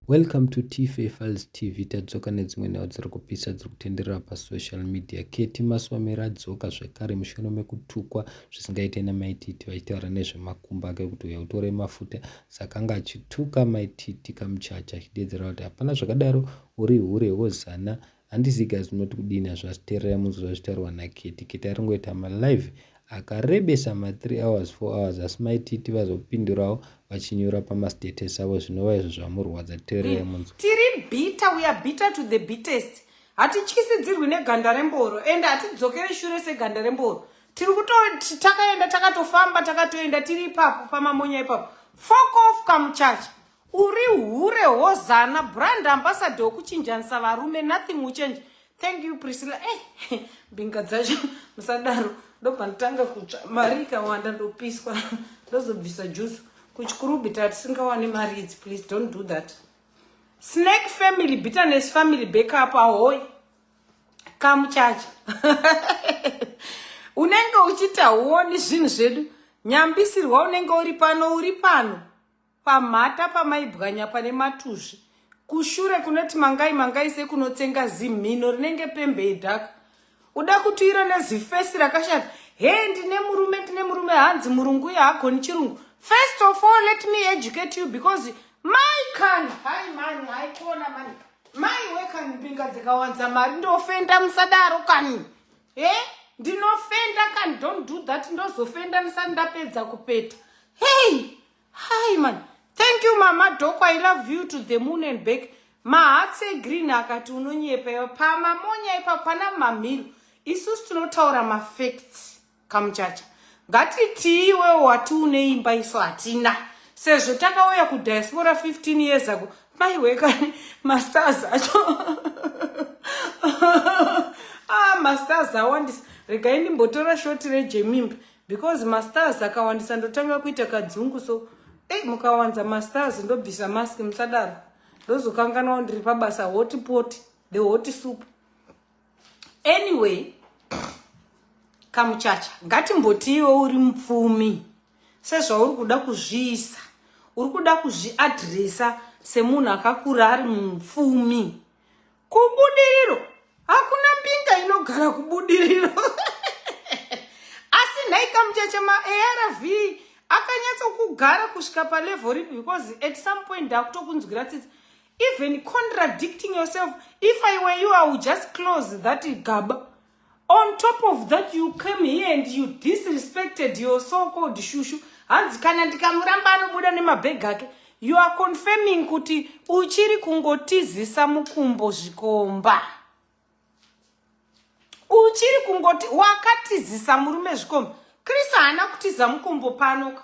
Welcome to Tife Files TV tadzoka nedzimwe nhau dziri kupisa dziri kutenderera pasocial media. Ketty Maswamira adzoka zvekare mushure mekutukwa zvisingaite namaititi vachitaura nezvemakumbo ake kuti uya utore mafuta saka anga achituka maititi kamuchacha achideedzera kuti hapana zvakadaro uri hure wozana handizivi guys munoti kudini hazvasi teererai munzwa zvitaurwa naketi keti ari ngoita malive akarebesa ma3 hours 4 hours asi maititi vazopindurawo vachinyora pamastatus avo zvinova izvo zvamurwadza teererai mm. munzwa tiri bita weare bita to the bitest hatityisidzirwi neganda remboro ende hatidzokere shure seganda remboro tiri kutoti takaenda takatofamba takatoenda tiri ipapo pamamonya ipapo fokof kamuchacha Uri hure hozana brand ambassador okuchinjanisa varume nothing will change. Thank you Priscilla. Eh, mbinga dzacho musadaro. Ndobva ndotanga kutsva mari ikawanda ndopiswa ndozobvisa jusu. Kuchikuru bita tisingawane mari idzi please don't do that. Snake family bitterness family backup ahoy. Kamuchacha. Unenge uchita huoni zvinhu zvedu. Nyambisirwa unenge uri pano uri pano. Pamhata pamaibwanya pane matuzvi. Kushure kunoti mangai mangai sekunotsenga zimhino rinenge pembe yedhaka. Uda kutuyira nezifesi rakashata. He ndine murume ndine murume hanzi murungu uye hagoni chirungu. First of all let me educate you because mai kani hai mani haikona mani mai wekani mbinga dzikawanza mari ndofenda musadaro kani he ndinofenda kani don't do that ndozofenda ndisati ndapedza kupeta hei Hi man. Thank you mama Doko. I love you to the moon and back. Mahatse green akati unonyepa iwe pama monya ipa pana mamhiro. Isusu tinotaura ma facts kamuchacha. Ngatitii iwe wati une imba isu hatina. Sezvo takauya ku diaspora 15 years ago. Mai wekani ma stars acho. ah ma stars awandisa. Regai ndimbotora shoti rejemimba. because mastars akawandisa ndotanga kuita kadzungu so ei mukawanza mastars ndobvisa mask musadaro ndozokanganwa ndiri pabasa hoti poti the hoti soup anyway kamuchacha ngatimbotiiwo uri mupfumi sezvauri kuda kuzviisa uri kuda kuzviadresa semunhu akakura ari mupfumi Kubudiriro hakuna mbinga inogara kubudiriro asi nhai kamucheche maarv akanyatsokugara kusvika palevel ripi because at some point ndakutokunzwira tsitsi even contradicting yourself if i were you i would just close that gaba On top of that you came here and you disrespected your so called shushu. Hanzi kana ndikamuramba anobuda nemabhegi ake. You are confirming kuti uchiri kungotizisa mukumbo zvikomba. Uchiri kungoti wakatizisa murume zvikomba. Chris haana kutiza mukumbo pano ka.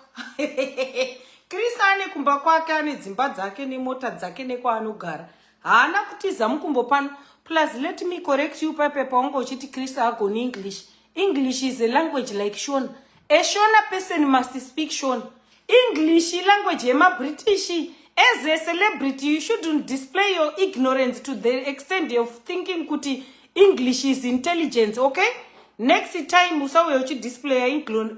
Chris ane kumba kwake ane dzimba dzake nemota dzake nekwaanogara. haana kutiza mukumbo pano plus let me correct you pape paunge uchiti chris agoni english english is a language like shona a shona person must speak shona english ilanguage yemabritish as a celebrity you shouldn't display your ignorance to the extent of thinking kuti english is intelligence okay next time usauya uchidisplaya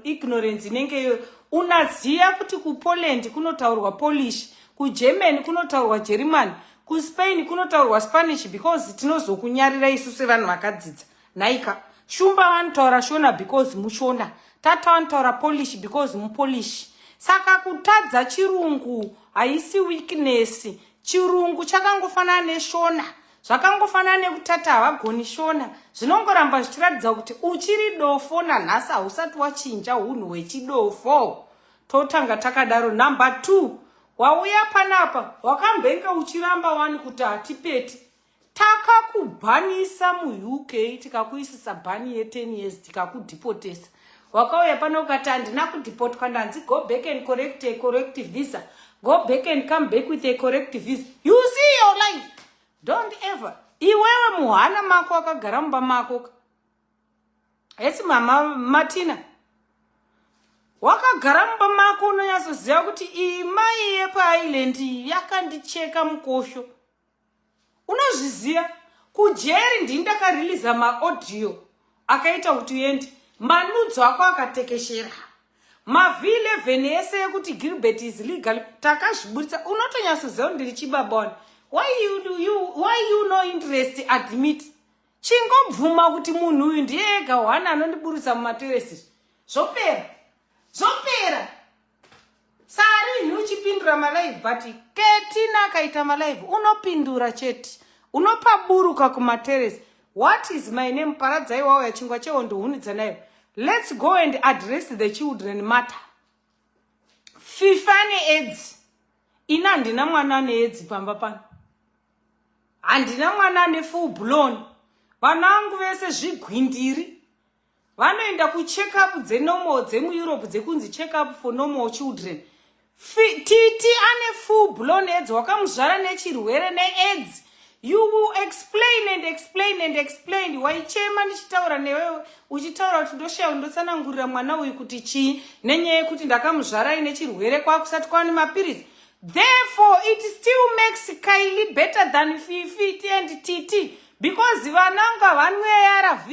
ignorance inenge iyoyo unaziva kuti kupoland kunotaurwa polish kugermany kunotaurwa jerimani kuspain kunotaurwa spanish because tinozokunyarira isu sevanhu vakadzidza nhaika shumba vanotaura shona because mushona tata vanotaura polish because mupolish saka kutadza chirungu haisi weakness chirungu chakangofanana neshona zvakangofanana nekutata havagoni shona zvinongoramba zvichiratidza kuti uchiri dofo nanhasi hausati wachinja unhu hwechidofo totanga takadaro number two wauya panapa wakambenge uchiramba wani kuti hatipeti takakubhanisa muuk tikakuisisa bhani ye10 years tikakudhipotesa wakauya pano ukati handina kudhipotwa ndanzi go back and correct a correct visa go back and come back with a correct visa you see your life don't ever iwewe muhana mako akagara mumba mako hesi mama matina wakagara mumba mako unonyatsoziva kuti iyi mai yepaisland iyi yakandicheka mukosho unozviziva kujeri ndini ndakariliza maaudio akaita kuti uende manudzo ako akatekeshera mavhi 11 ese yekuti gilbert is legal takazviburitsa unotonyatsoziva kuti ndiri chibabon why you, you, why you no interest admit chingobvuma kuti munhu uyu ndiye ega one anondiburutsa mumateresi zvopera zvopera sarinhi uchipindura malive but ketina akaita malive unopindura chete unopaburuka kumateresi what is my name paradzai wawo yachingwa chehondo hunidza nayo let's go and address the children matter fifa needzi ini handina mwana aneedzi pamba pano handina mwana ane full blown vana vangu vese zvigwindiri vanoenda kucheckup dzenomal dzemueurope dzekunzi checkup for normal children titi ane full blown aids wakamuzvara nechirwere neaids you will explain and explain and explain waichema ndichitaura newewe uchitaura kuti ndoshaya ndotsanangurira mwana uyu kuti chii nenyaya yekuti ndakamuzvarai nechirwere kwakusati kwaane mapiritsi Therefore, it still makes Kylie better than Fifi and Titi because vana unga vanwe ARV.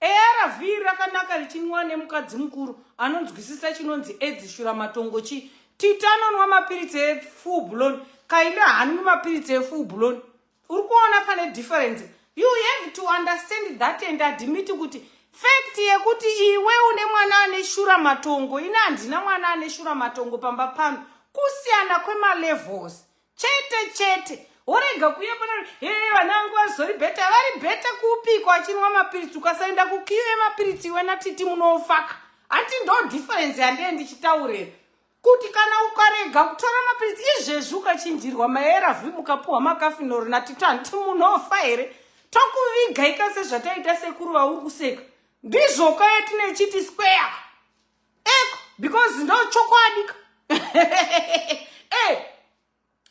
ARV rakanaka richinwa nemukadzi mukuru anonzwisisa chinonzi edzi shura matongo chi. Titi anonwa mapiritsi efull blown. Kylie hanwi mapiritsi efull blown. uri kuona pane difference you have to understand that and admit kuti fact yekuti iwe une mwana ane shura matongo ini handina mwana ane shura matongo pamba pano kusiyana kwemalevels chete chete worega kuuya pana he vana vangu vazori bheta vari bheta kuupiko achinwa mapiritsi ukasaenda kukiu yemapiritsi iwe natiti munofaka hati ndo difference yandee ndichitaurira kuti kana ukarega kutora mapiritsi izvezvi ukachinjirwa maerv mukapuhwa makafinori natito handiti munhu ofa here tokuviga ika sezvataita sekuru vauri kuseka ndizvoka yatinechiti square eko because ndochokwadika e eh,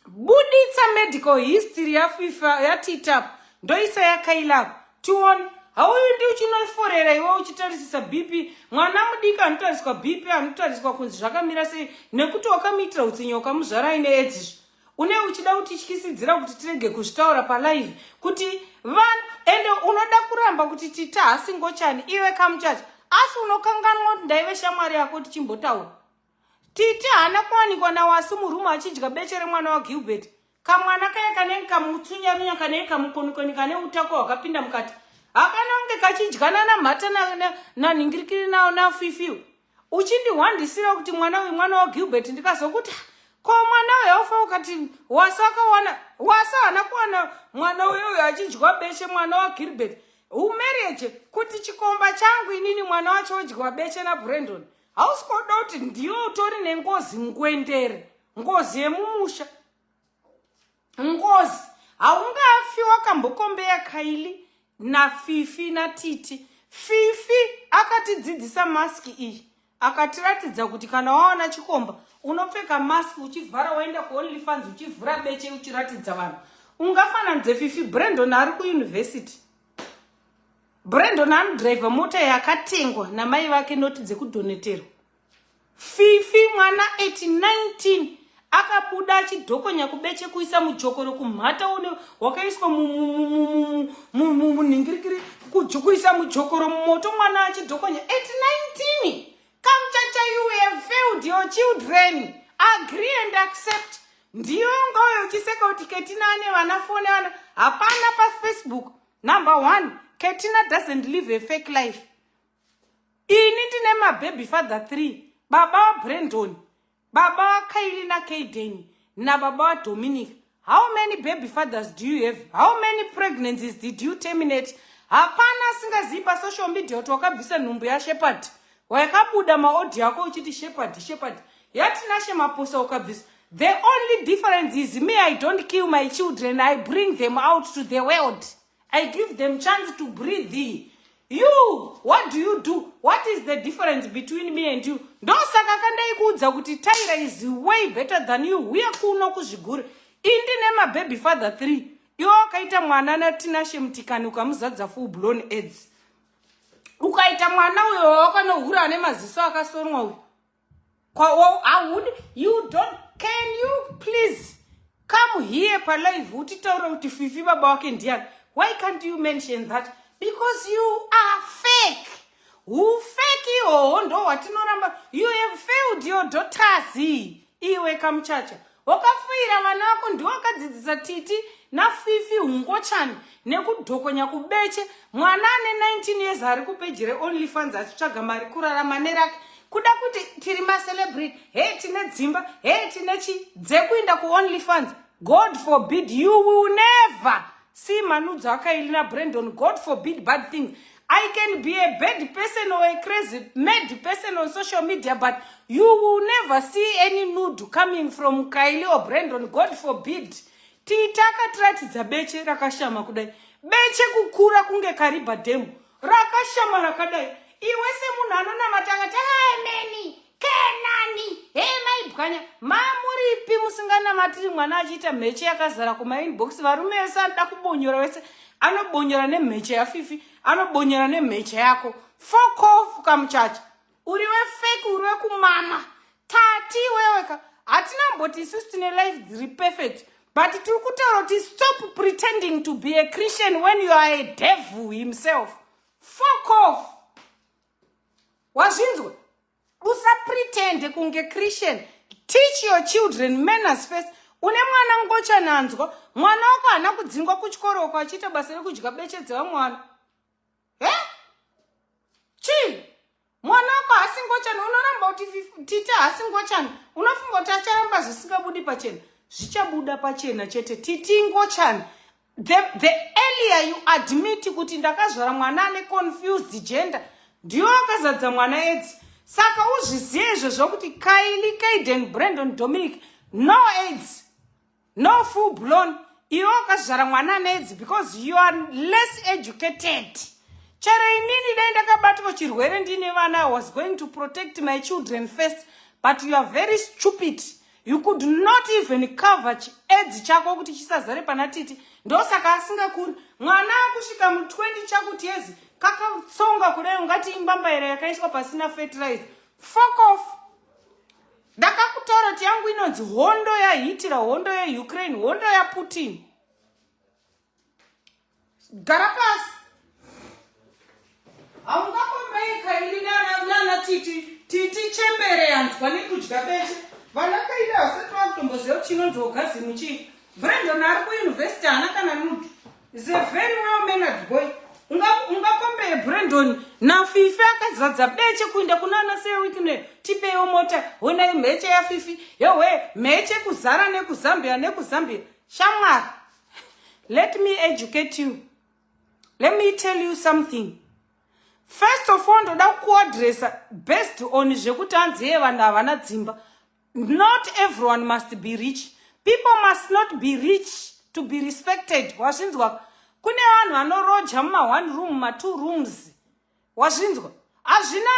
buditsa medical history yafifa yatitap ndoisa yakailap tione hauyu ndi uchinoforera iwe uchitarisisa bp mwana mudiki anotariswa bp anotariswa kunzi zvakamira sei nekuti wakamuitira utsinye ukamuzvara aine edzizvo une uchida kutityisidzira kuti tirege kuzvitaura palive kuti vanhu ende unoda kuramba kuti tita hasingochani iwe kamuchacha asi unokanganwa kuti ndaive shamwari yako tichimbotaura Titi haana kuwanikwa naWasu murumu achidya beche remwana waGilbert. Kamwana kaya kanenge kamutsunyarunya kanenge kamukonikoni kane utako hwakapinda mukati. Hakana kunge kachidyana namhata nanhingirikiri nawo nafifiu. Uchindihwandisira kuti mwana uyu mwana waGilbert ndikazokuti ko mwana uyu aufa ukati Wasu akawana Wasu haana kuwana mwana uyo uyo achidyiwa beche mwana waGilbert. Umarriage kuti chikomba changu inini mwana wacho odyiwa beche naBrandon. hausi kuda kuti ndiwe utori nengozi ngwendere ngozi yemumusha ngozi haungafi wakambokombeya kaili nafifi natiti fifi akatidzidzisa maski iyi akatiratidza kuti kana waona chikomba unopfeka maski uchivhara waenda kuonly fans uchivhura beche uchiratidza vanhu ungafananidze fifi brandon ari kuyunivhesiti Brandon anodriver mota yakatengwa namai vake noti dzekudoneterwa. Fifi mwana 819 akabuda achidhokonya kubeche kuisa mujokoro kumhata une wakaiswa munhingirikiri kuisa mujokoro mumoto mwana achidhokonya 819 kamchacha you have failed your children agree and accept ndiyo ngaoyo uchiseka kuti ketina ane vana fone ana hapana pafacebook number one katina doesn't live a fake life ini ndine mababy father three baba vabrandon baba vakaili nakaiden nababa vadominic how many baby fathers do you have how many pregnancies did you terminate hapana asingazivi pasocial media kuti wakabvisa nhumbu yashepard wayakabuda maaudio ako uchiti shepherd shepherd yatinashe maposa ukabvisa the only difference is me i don't kill my children i bring them out to the world i give them chance to breathe you what do you do what is the difference between me and you ndosaka kandaikuudza kuti tyra is way better than you huye kuno kuzvigure indi nemababy father three iwo wakaita mwana natinashe mutikani ukamuzadza full blown aids ukaita mwana uyo wawakanohura ane maziso akasonwa uyo kwawoud you don't can you please come here palive utitaure kuti fifi baba wake ndiani why can't you mention that because you are fake ufeki ihoho ndo hwatinoramba you have failed your daughters iwe kamuchacha wakafuira vana vako ndiwo akadzidzisa titi nafifi hungochani nekudhokonya kubeche mwana ane 19 years ari kupeji reonly funds achitsvaga mari kurarama nerake kuda kuti tiri macelebrity he tine dzimba he tine chi dzekuinda kuonly funds god forbid you will never see manudzo akaili nabrandon god forbid bad things I can be a bad person or a crazy mad person on social media, but you will never see any nude coming from Kylie or Brandon. God forbid. Tita akatiratidza beche rakashama kudai. Beche kukura kunge kariba demo. Rakashama rakadai. Iwe semunhu anonamata akati ameni. kenani hei maibwanya mamuripi musinganamatiri mwana achiita mheche yakazara kumainbox varume vese anoda kubonyora wese anobonyora nemheche yafifi anobonyora nemheche yako fokofu kamuchacha uri wefeki uri wekumama tati iweweka hatina mboti isusu tine life dziri perfect but tiri kutaura kuti stop pretending to be a christian when you are a devil himself fokofu wazvinzwa usapretende kunge christian teach your children manners first une mwana ngochananzwa mwana wako haana kudzingwa kuchikoro uko achiita basa rekudya beche dzevamwana he chii mwana wako haasi ngochani unoramba kuti tita haasi ngochani unofunga kuti acharamba zvisingabudi pachena zvichabuda pachena chete titi ngochani the, the earlier you admit kuti ndakazvara mwana ane confused gender ndiyo akazadza mwana edzi saka uzvizive izvo zvokuti kaili kaiden brandon dominic no aids no full blown iwe wakazvara mwana ane edzi because you are less educated chero inini dai ndakabatwa chirwere ndiine vana i was going to protect my children first but you are very stupid you could not even cover chiedzi chako kuti chisazare pana titi ndosaka asingakuri mwana akusvika mu 20 chakuti yezi kakatsonga kudai ungati imbambaira yakaiswa pasina fertilize fok off ndakakutaura kuti yangu inonzi hondo yahiitira hondo yeukraine hondo yaputin gara pasi haungakombeyi kairi nana titi titi chembere yanzwa nekudya bete vana kairi havasati vakutomboziva kuti chinonzi ogazimu chii brandon ari kuyunivhesiti haana kana nudu is a very well mannered boy ungakombeye unga brandon nafifi akazadza beche kuinda kuna ana sewikne tipeyo mota honai mheche yafifi yowe mheche kuzara nekuzambia nekuzambia shamwari let me educate you let me tell you something first of all ndoda kuadressa based on zvekuti hanzi yee vanhu havana dzimba not everyone must be rich people must not be rich to be respected wazvinzwa kune vanhu vanoroja muma one room matwo rooms wazvinzwa hazvina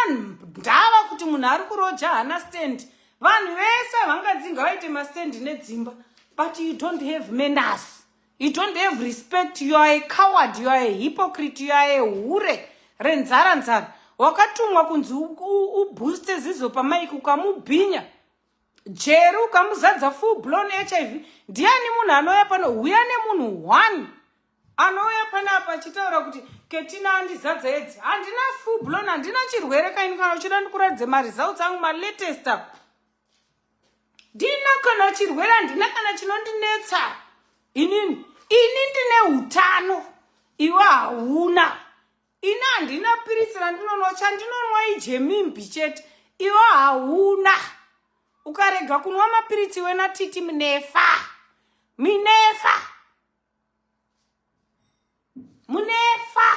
ndava kuti munhu ari kuroja hana stand vanhu vese vangadzinga vaite mastand nedzimba but you don't have manners you don't have respect you are a coward you are a hypocrite you are a hure renzara nzara wakatumwa kunzi ubooste zizo pamaiki ukamubhinya jeri ukamuzadza full blown hiv ndiani munhu anouya pano huya nemunhu one anouya panapa achitaura kuti ketina andizadza edzi handina fublon handina chirwere kaini kana uchida ndikuratidze maresults angu malatest up ndina kana chirwere handina kana chinondinetsa inini ini ndine utano iwe hauna ini handina piritsi randinonwa chandinonwa ijemimbi chete iwe hauna ukarega kunwa mapiritsi iwe natiti minefa minefa munefa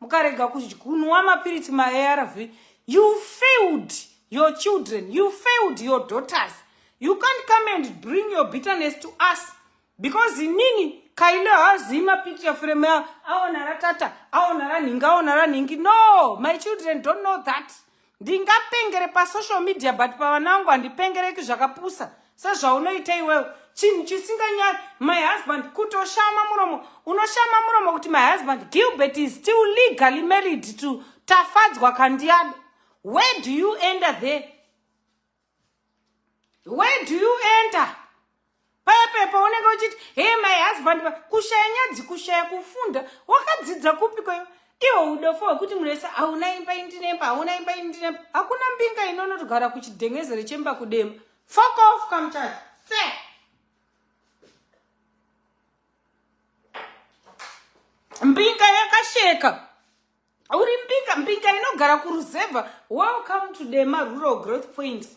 mukarega kunwa mapiritsi maarv you failed your children you failed your daughters you can't come and bring your bitterness to us because inini kailo haazii mapicture frame yao aona ratata aona ranhingi aona ranhingi no my children don't know that ndingapengere pasocial media but pavana vangu handipengereki zvakapusa sezvaunoita iwewo chinhu chisinganyari my husband kutoshama muromo unoshama muromo kuti my husband gilbert is still legally married to tafadzwa kandiyado where do you ender there where do you enter paya paya paunenge uchiti hey my husband kushaya nyadzi kushaya kufunda wakadzidza kupi kwayo iwo udofo hwekuti munhu wese hauna imba indinemba hauna imba indinemba hakuna mbinga inonotogara kuchidhengezere chemba kudema fok off kamchati tse mbinga yakasheka uri mbinga mbinga inogara kuruzevha welcome to dema rural growth point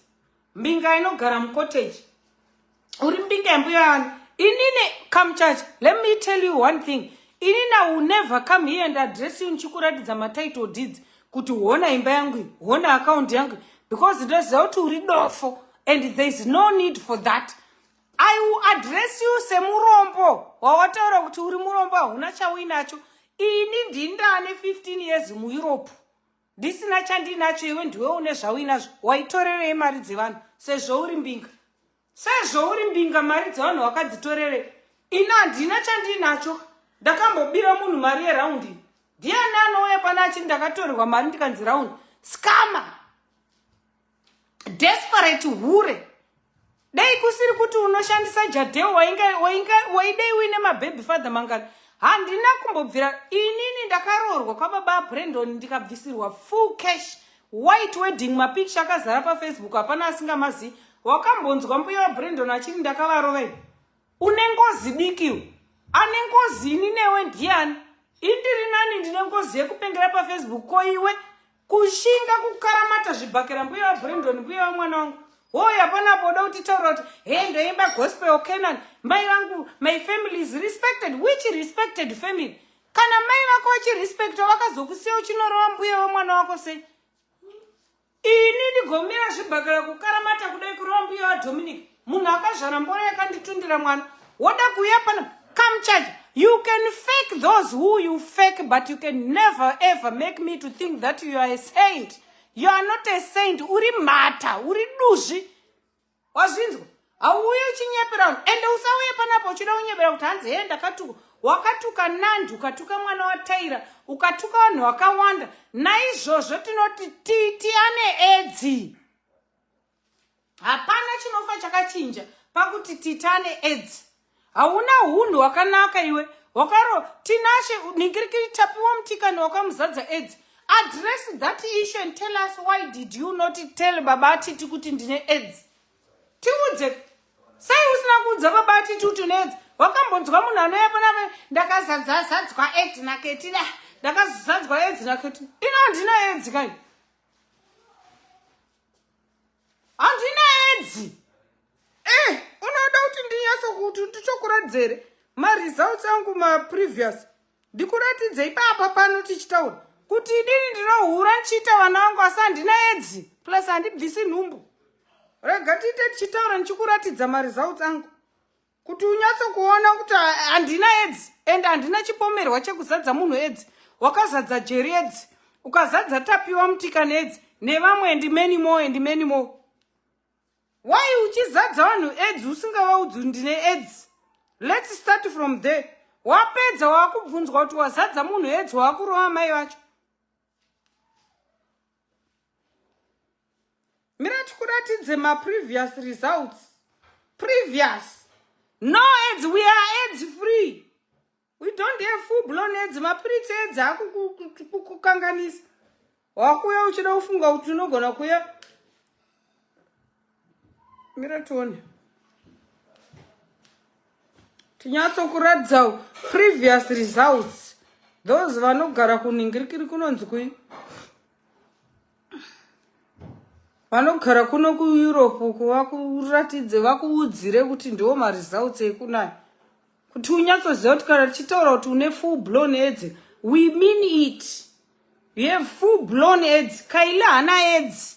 mbinga inogara mucottage uri mbinga yambuya yani inine come church let me tell you one thing inina will never come here and address you ndichikuratidza matitle deeds kuti hona imba yangu iyi hona akaunti yangu iyi because ndoziva kuti uri dofo and there is no need for that I will address you semurombo wawataura kuti uri murombo hauna chauinacho ini ndindane 15 years mueurope ndisina chandinacho iwe ndiwe une zvauinazvo waitorerei mari dzevanhu sezvouri mbinga sezvouri mbinga mari dzevanhu wakadzitorerei ini handina chandinacho ndakambobira munhu mari yeraundi ndiani anouya pana achii ndakatorerwa mari ndikanzi raundi skama desperate hure dai kusiri kuti unoshandisa jadeo waidei uine mababy father mangani handina kumbobvira inini ndakaroorwa kwababa brandon ndikabvisirwa full cash white wedding mapikicha akazara pafacebook hapana asingamazi wakambonzwa mbuya wabrandon achiti ndakavarovei une ngozi dikiwo ane ngozi ini newe ndiani indiri nani ndine ngozi yekupengera pafacebook ko iwe kushinga kukaramata zvibhakera mbuya vabrendon mbuya vamwana wangu hoi hapana apo uda kutitaura kuti he ndoimba gospel canan mai vangu my family is respected which respected family kana mai vako vachirespecta vakazokusiya uchinorova mbuya vamwana wako sei ini ndigomira zvibhakera kukaramata kudai kurova mbuya vadominic munhu akazvara mboro yakanditundira mwana woda kuuya pano come charge you can fake those who you fake but you can never ever make me to think that you are a saint you are not a saint uri mhata uri duzvi wazvinzwa hauuye uchinyepera vanhu ende usauye panapo uchida kunyepera kuti hanzi hee ndakatuka wakatuka nandi ukatuka mwana wataira ukatuka vanhu vakawanda naizvozvo tinoti titi ane edzi hapana chinofa chakachinja pakuti titane edzi hauna hunhu hwakanaka iwe wakaro tinashe ningirikiri tapiwa mutikani wakamuzadza edzi address that issue and tell us why did you not tell baba atiti kuti ndine edzi tiudze sei usina kuudza baba atiti kuti une edzi wakambonzwa munhu anouya panave ndakazadzazadzwa edzi naketida ndakazadzwa edzi naketida ino handina edzi kaini Handina edzi. Eh, unoda kuti ndinyase kuti ndichokuradzere maresults angu maprevious. Ndikuratidze ipapa pano tichitaura kuti idini ndinohura ndichiita vana vangu asi handina edzi plus handibvisi nhumbu. Rega tiite tichitaura ndichikuratidza maresults angu. kuti unyatsokuona kuti handina edzi and handina chipomerwa chekuzadza munhu edzi wakazadza jeri edzi ukazadza tapiwa mutika needzi nevamwe and many more and many more why uchizadza vanhu edzi usingavaudzi ndine edzi let's start from there wapedza waakubvunzwa kuti wazadza munhu edzi waakurova mai vacho mira tikuratidze maprevious results previous no aids we are aids free we don't have full blown aids mapiritsi aids akukukanganisa wakuya uchida kufunga kuti unogona kuya mira tione tinyatsokuratidzawo previous results those vanogara kuningirikiri kunonzi kui vanogara kuno kueurope uku vakuratidze vakuudzire kuti ndiwo maresults ekunayo kuti unyatsoziva kuti kana tichitaura kuti une full blown aids we mean it you have full blown aids kaile hana aids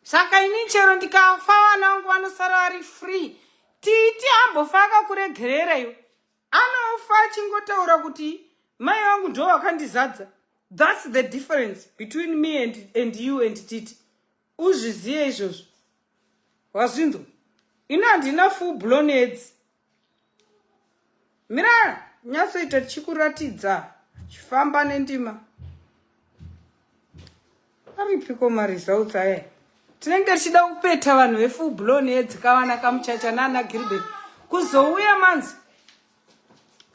saka ini chero ndikafa vana vangu vanosara vari free titi ambofa akakuregerera iwe anofa achingotaura kuti mai vangu ndo vakandizadza thats the difference between me and, and you and titi uzvizive izvozvo wazvinzwa ini handina full blown aids mira nyatsoita tichikuratidza chifamba nendima aripiko maresults aya tinenge tichida kupeta vanhu vefull blown yedzikavana kamuchacha nana gilbert kuzouya manzi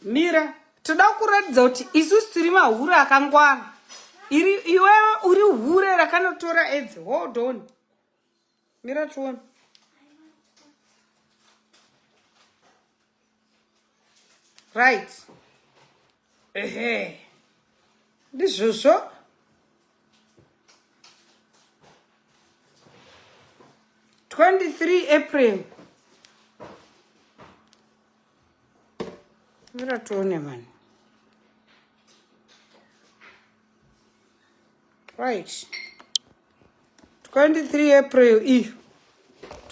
mira toda kuratidza kuti isusu tiri mahure akangwara iri iwewe uri hure rakanotora edzi hold on Mira tione. Right. Ehe. Ndizvozvo. Twenty three April. Mira tione mani. right 23 april iyo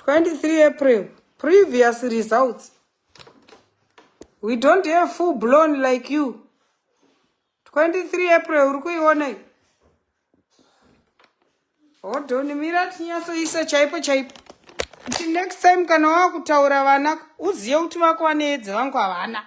23 april previous results we don't have full blown like you 23 april uri kuiona iyo hodoni mira tinyatsoisa chaipo chaipo kuti next time kana wava kutaura vana uzive kuti vako vaneedzi vangu havana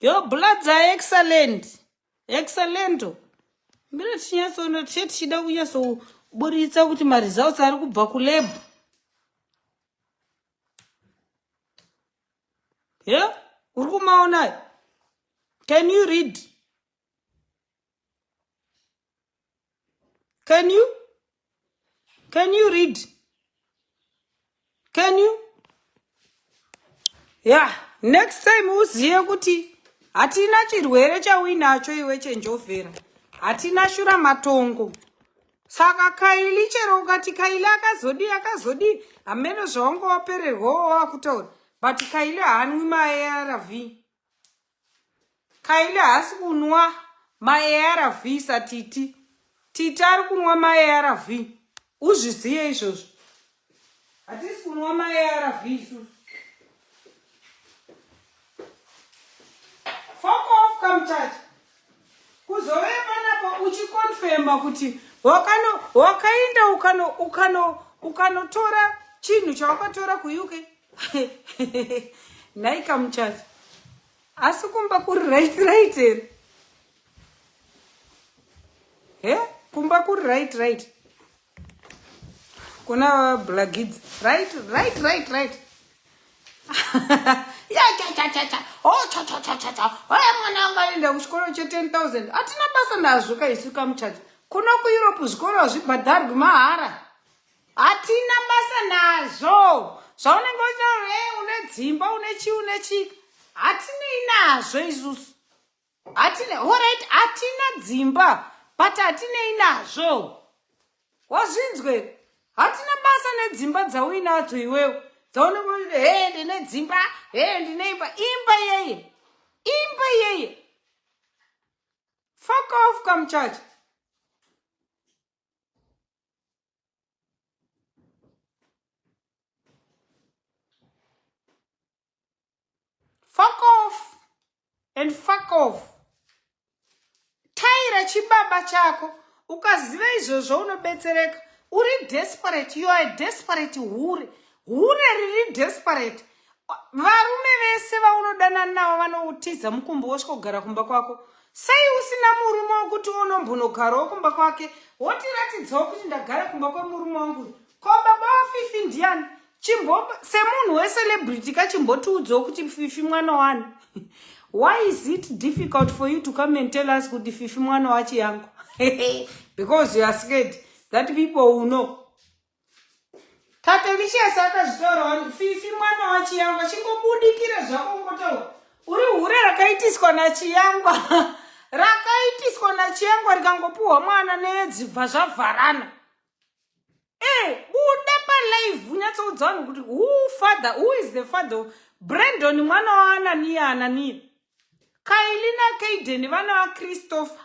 your bloods are excellent excellento mbira tichinyatsoona tiche tichida kunyatsoburitsa kuti maresults ari kubva kulab ye uri kumaonayo can you read can you can you read can you yeah next time uzive kuti hatina chirwere chauinacho iwe chenjovhera hatina shura matongo saka kaili chero ukati kaili akazodii akazodii hameno zvaungowapererwawo wakutaura but kaili haanwi maarv Kaile haasi kunwa maarv satiti titi ari kunwa maarv uzviziye izvozvo hatisi kunwa maarv isusu fokof kamuchacha kuzove panapo uchikonfema kuti wakaenda ukanotora chinhu chawakatora kuuk nhai kamuchacha asi kumba kuri right right here he kumba kuri right right kuna blagidzi right right right right yachachachacha o oh, chachachachacha oya mwana anga aenda kuchikoro che 10 000 hatina basa nazvo kaisu kamuchacha kuno kueurope zvikoro hazvibhadharwi mahara hatina basa nazvo zvaunenge uchitaura e une dzimba une chii une chika hatinei nazvo isusu hatina horit hatina dzimba but hatinei nazvo wazvinzwe hatina basa nedzimba dzauinadzo iwewo dzaunenge uchiti he ndine dzimba he ndine imba imba yeye imba yeye fuck off kamuchacha fuck off and fuck off taira chibaba chako ukaziva izvozvo unobetsereka uri desperate you are a desperate hure hure riri desperate varume vese vaunodana navo vanoutiza mukumbo wosvika kugara kumba kwako sei usina murume wokuti unombonogarawo kumba kwake wotiratidzawo kuti ndagara kumba kwemurume wangu ko baba wafifi ndiani chimbo semunhu wecelebrity ka chimbotiudzawo kuti fifi mwana wani why is it difficult for you to come and tell us kuti fifi mwana wachi yangu because you are scared that people will know Patricious akazvitorawo fifi mwana wachiyangwa chingobudikire zvako ngotaura uri hure rakaitiswa nachiyangwa rakaitiswa nachiyangwa rikangopiwa mwana nedzibva zvavharana e eh, buda palive unyatsoudza vanhu kuti who father who is the father brandon mwana waananiya ananiya kaili nakaiden vana vachristopher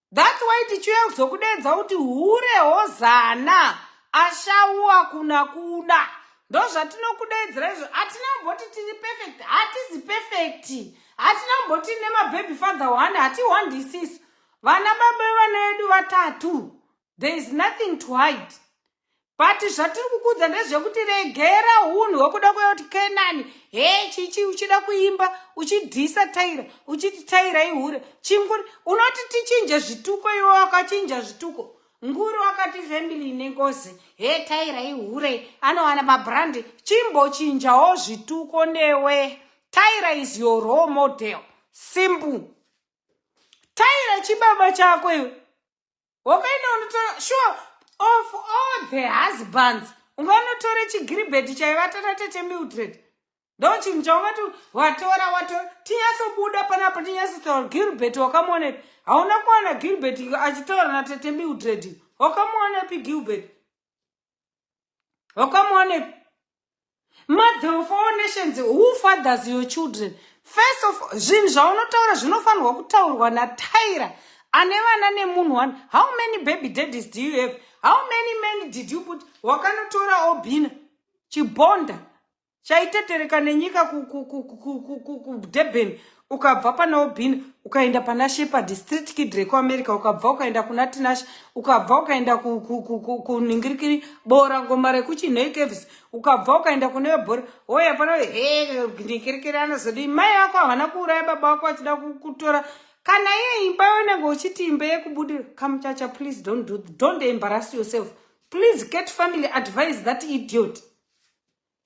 thats why tichiuya kuzokudeedza kuti hure hozana ashauwa kuna kuna ndozvatinokudeedzera izvo hatina kumboti tiri perfect hatizi perfect hatina kumboti nemababy father one hatiwandisisu vana baba vana vedu vatatu there is nothing to hide but zvatiri kukuudza ndezvekuti regera unhu hwekuda kuyoti kenani he chichi uchida kuimba uchidhisa taira uchiti taira ihure chinguri unoti tichinje zvituko iwe wakachinja zvituko nguri wakati family ine ngozi he taira ihure anowana mabrandi chimbochinjawo zvituko newe taira is your role model simple taira chibaba chako iwe wakaenda unotora sure of all the husbands unganotore chigiribheti chaivata natete mildred ndo chinhu chaungati watora watora tinyatsobuda panapa tinyatsotaura gilbert wakamuonepi hauna kuwana gilbert achitaura natete mildred wakamuonepi gilbert hokamuone mother of all nations who fathers your children first of zvinhu zvaunotaura zvinofanirwa kutaurwa nataira ane vana nemunhu one how many baby daddies do you have how many men did you put wakanotora obina chibonda chaitetereka nenyika kudurban ukabva pana obin ukaenda pana shepard street kid rekuamerica ukabva ukaenda kuna tinashe ukabva ukaenda kuningirikiri bora ngoma rekuchinhei caves ukabva ukaenda kune vebhora hoya pano he ningirikiri anozodii mai vako havana kuuraya baba vako vachida kutora kana iye imba yonenge uchiti imba yekubudira kamuchacha please don't do don't embarrass yourself please cat family advise that idiot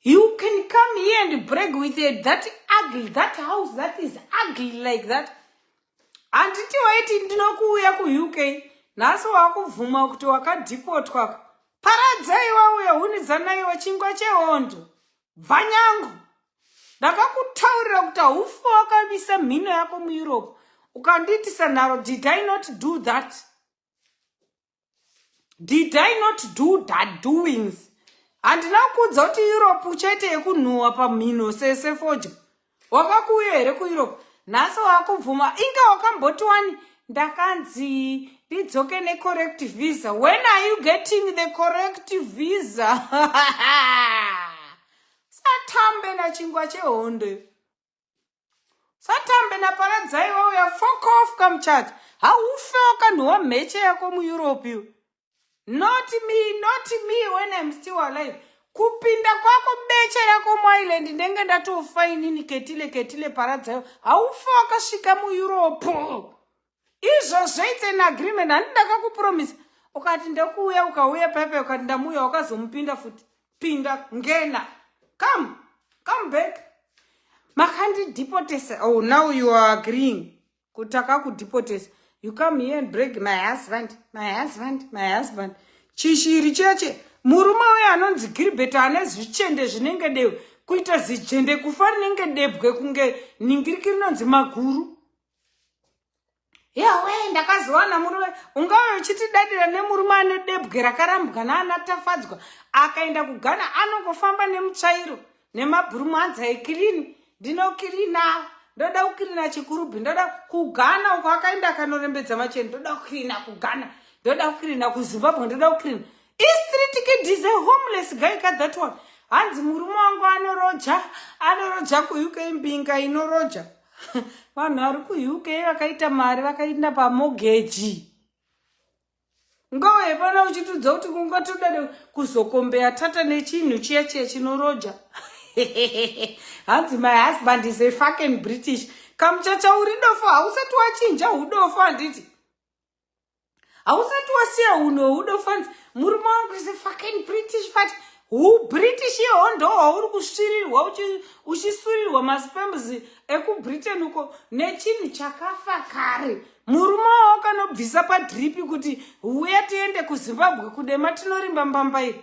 You can come here and brag with a, that ugly, that house that is ugly like that. Handiti waiti ndinokuuya kuUK, nhasi wakubvuma kuti wakadhipotwa. Paradzai wauya hunidzanaiwa chingwa chehondo. Bvanyangu. Ndakakutaurira kuti haufa wakamisa mhino yako muEurope. Ukandiitisa nharo, did I not do that? did i not do that doings handina kuudza kuti europe chete yekunhuhwa pamhino sese fodya wakakuuya here kueurope nhasi wakubvuma inga wakamboti wani ndakanzi ndidzoke necorrect visa when are you getting the correct visa satambe nachingwa chehondo satambe naparadzai wauya fokof kamuchati haufe wakanhuwa mheche yako mueurope you not me not me when im still alive kupinda kwako beche rako muireland ndenge ndatofa inini ketile ketile paradzai haufe wakasvika mueurope izvozvo it's an agreement handi ndakakupromisa ukati ndokuuya ukauya paipai ukati ndamuuya wakazomupinda futi pinda ngena come come back makandidipotesa oh now you are agreeing kuti akakudipotesa you come here and break my husband my husband my husband chishiri cheche murume uyo anonzi gilbert ane zvichende zvinenge deu kuita zichende kufa rinenge debwe kunge ningiriki rinonzi maguru yawe ndakazowana murume ungave uchitidadira nemurume ane debwe rakarambwa naanatafadzwa akaenda kugana anongofamba nemutsvairo nemabhurumanza ekirini ndinokirina ndoda kukirina chikurubhi ndoda kugana uko akaenda akanorembedza macheni ndoda kukirina kugana ndoda kukirina kuzimbabwe ndoda kukirina istritkidize homeless guy ka that one hanzi murume wangu anoroja anoroja kuuk mbinga inoroja vanhu vari kuuk vakaita mari vakainda pamogeji ngowe pona uchitudza kuti kungatoda kuzokombeya tata nechinhu chiya chiya chinoroja hanzi my husband is a fucking british kamuchacha uri dofo hausati wachinja udofo handiti hausati wasiya uno udo fans murume wangu is a fucking british fat hu british ihoho ndo hwauri kusvirirwa uchisurirwa maspams ekubritain uko nechinhu chakafa kare murume wao kanobvisa padripi kuti huya tiende kuzimbabwe kudema tinorimba mbamba iri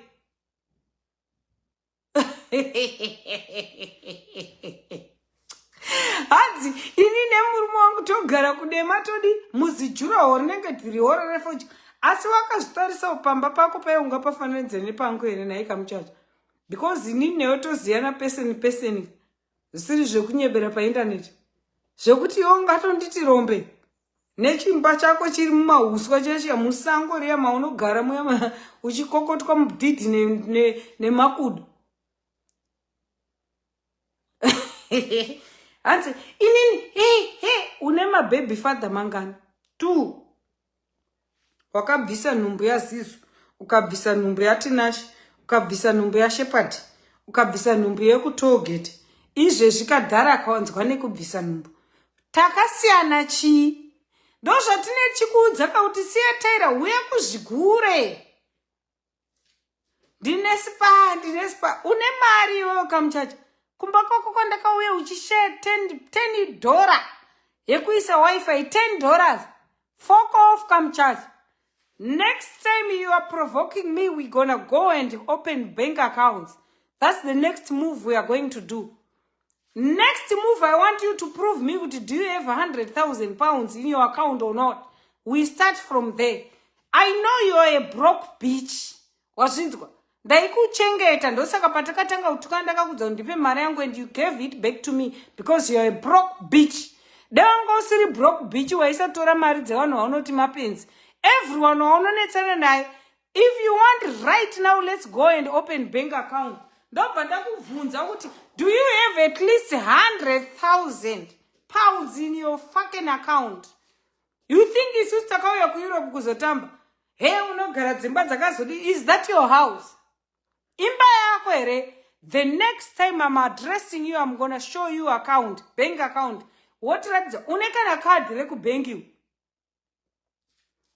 hanzi ini nemurume wangu togara kudema todi muzijuraho rinenge tirihoro refoja asi wakazvitarisawo pamba pako paiunga pafananidze nepangu here nhaika muchacha because ini newe toziyana peseni peseni zvisiri zvekunyebera paindaneti zvekuti iwe ungatonditi rombe nechimba chako chiri mumauswa chiya musango riya maunogara muya uchikokotwa mudhidhi nemakudo hanzi inini he he une mabhabhy father mangani two wakabvisa nhumbu yazizu ukabvisa nhumbu yatinashi ukabvisa nhumbu yashepati ukabvisa nhumbu yekutogeti izvezvi kadhara akawanzwa nekubvisa nhumbu takasiyana chii ndozvatine chikuudza kauti siya taira huya kuzvigure ndine spa ndine spa une mari iwe wakamuchacha kumba kwako kwandakauya uchishare ten, ten dollar yekuisa wifi ten dollars fok off kamuchacha next time you are provoking me we gonna go and open bank accounts that's the next move we are going to do next move i want you to prove me kuti do you have 100000 pounds in your account or not we start from there i know youare a broke beach wazvinzwa ndaikuchengeta ndosaka patakatanga kutukana ndakakudza kuti ndipe mari yangu and you gave it back to me because youare a broke beach dewanga usiri broke beach waisatora mari dzevanhu vaunoti mapenzi everyone waunonetsana naye if you want right now let's go and open bank account ndobva ndakubvunza kuti do you have at least 100000 pounds in your fucking account you think isusu takauya kueurope kuzotamba he unogara dzimba dzakazodi is that your house imba yako here the next time im addressing you im gonna show you account bank account wotiratidza une kana kadhi rekubhenkiwo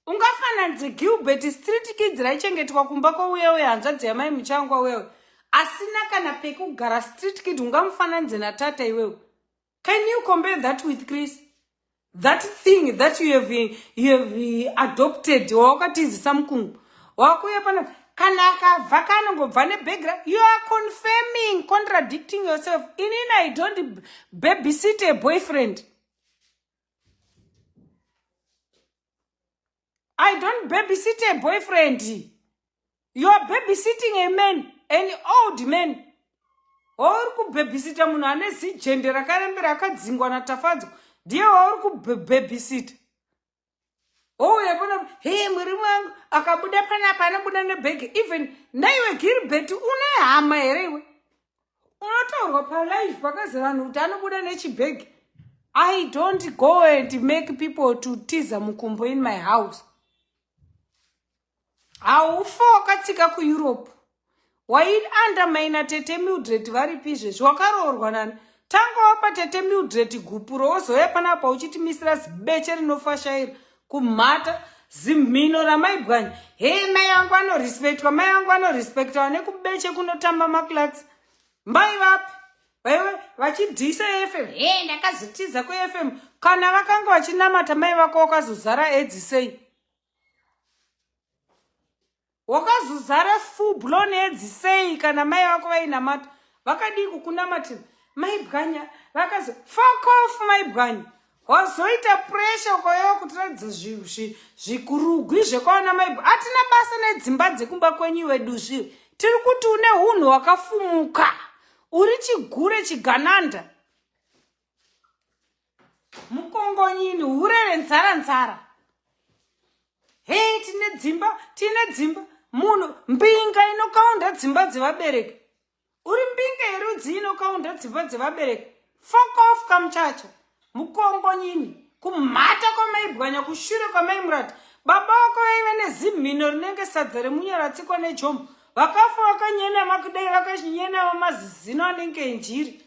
ungafananidze gilbert street kids raichengetwa kumba kwauyewe hanzvadzi yamai muchangwa wewe asina kana pekugara street kid ungamufananidze natata iwewe can you compare that with chris that thing that you have, you have adopted wawakatizisa mukungu wakuuya pana kana akabva kanongobva nebegra you are confirming contradicting yourself inini i don't babysit a boyfriend I don't babysit a boyfriend. You are babysitting a man, an old man. Wauri kubabysita munhu ane zijende rakarembera akadzingwa naTafadzwa. Ndiye wauri kubabysita. Ouya oh, pano, hey mwiri wangu akabuda panapa anobuda nebhegi. Even naiwe Gilbert une hama here iwe? unotaurwa palive pakazi vanhu kuti anobuda nechibhegi i don't go and make people to tiza mukumbo in my house haufa wakatsika kueurope waiandamaina tete mildred varipi izvezvi wakaroorwa nani tanga wapa tete mildred gupuro wozouya panapa uchitimisira zibeche rinofashaira kumhata zimhino ramaibwanya hei mai vangu vanorespectwa mai vangu vanorespecta vane kubeche kunotamba maclax mai vapi vaive vachidhisa efm he ndakazotiza kuefm kana vakanga vachinamata mai vako wakazozara edzi sei wakazozara fublo needzi sei kana mai vako vainamata vakadii kukunamatira mai bwanya vakazi fokof mai bwanya wazoita puresha ukayoa kutiratidza zvikurugwi zvekwaona mai atina basa nedzimba dzekumba kwenyu wedu zvi tiri kuti une unhu wakafumuka uri chigure chigananda mukongonyini hurere nzara nzara hei tine dzimba tine dzimba munhu mbinga inokaunda dzimba dzevabereki uri mbinga yerudzi inokaunda dzimba dzevabereki fokof kamuchacha mukongonyini kumhata kwamaibwanya kushure kwamaimurati baba vako vaive nezimhino rinenge sadza remunyaratsiko nejombo vakafa vakanyena makudai vakanyena vamazizino anenge enjiri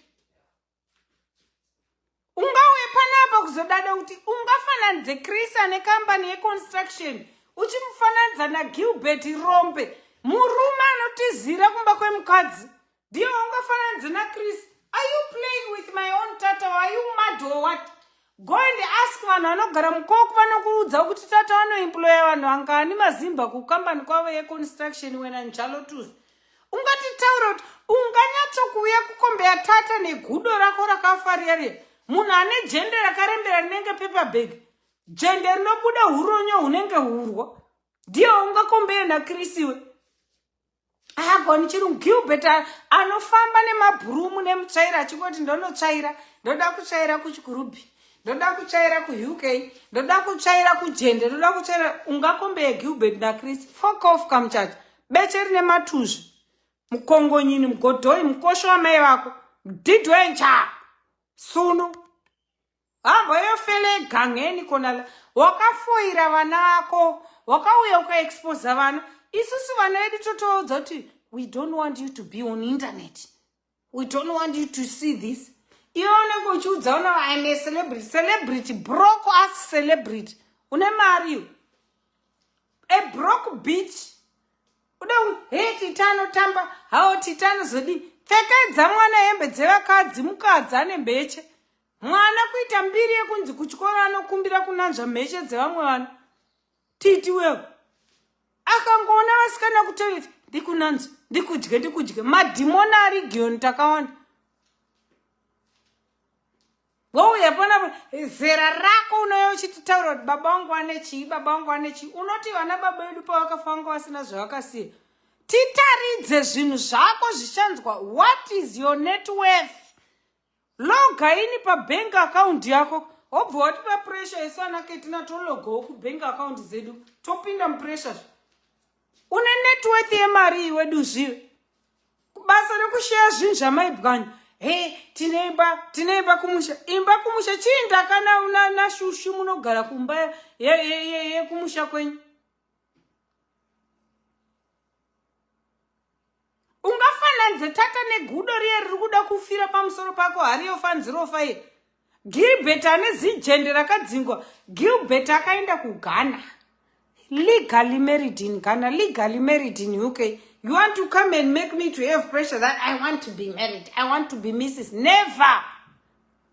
ungauye panapa kuzodada kuti ungafananidze chris ane kambani yeconstruction uchimufananidza nagilbert rombe murume anotizira kumba kwemukadzi ndiyo ungafananidze nachris are you playing with my own tata are you mad or what Go and ask vanhu vanogara mukoko vanokuudza kuti tata vanoemploya vanhu vangani mazimba kukambani kwavo yeconstruction wena njalo tuzi ungatitaura kuti unganyatsokuuya kukombeya tata negudo rako rakafaria riya munhu ane jende rakarembera rinenge paperbag jende rinobuda uronyo hunenge hurwo ndiye ungakombeya nakrisiwe haagoni chirungu gilbert anofamba nemabhurumu nemutsvaira achingoti ndonotsvaira ndoda kutsvaira kuchikurubhi ndoda kutsvaira kuuk ndoda kutsvaira kujende ndoda kutsvaira ungakombe yegilbert nachris fokof kamuchacha beche rine matuzvi mukongonyini mugodhoi mukosho wamai vako didwencha sunu Hambwa yofele gangeni kona wakafoira vana vako wakauya ukaexposa vana isusu vana vedu totoudza kuti we don't want you to be on internet we don't want you to see this iwe unenge uchiudza una im a celebrity celebrity broko as celebrity une mari yo a broke beach ude he tita anotamba hao tita anozodii pfekedza mwana hembe dzevakadzi mukadzi ane mbeche mwana kuita mbiri yekunzi kuchikoro anokumbira kunanzva mheshe dzevamwe vana titi wewe akangoona vasikana kutoireti ndikunanzva ndikudye ndikudye madhimoni ari giyoni takawanda wouya pona zera rako unouya uchititaura kuti baba wangu ane chii baba wangu ane chii unoti vana baba vedu pavakafa vanga vasina zvavakasiya titaridze zvinhu zvako zvichanzwa what is your networth loga ini pabank account yako wobva watipa pressure isu ana ketina tologawo kubank account dzedu topinda mupressure une networth yemari iwe duzviyo basa rekusheya zvinhu zvamaibwanya he tine imba tine imba kumusha imba kumusha chii ndakana nashushu munogara kumba yekumusha kwenyu ungafananidze tata negudo riye riri kuda kufira pamusoro pako hari yofanzirofa iye gilbert ane zijende rakadzingwa gilbert akaenda kughana legally married in ghana legally married in uk you want to come and make me to have pressure that i want to be married i want to be mrs never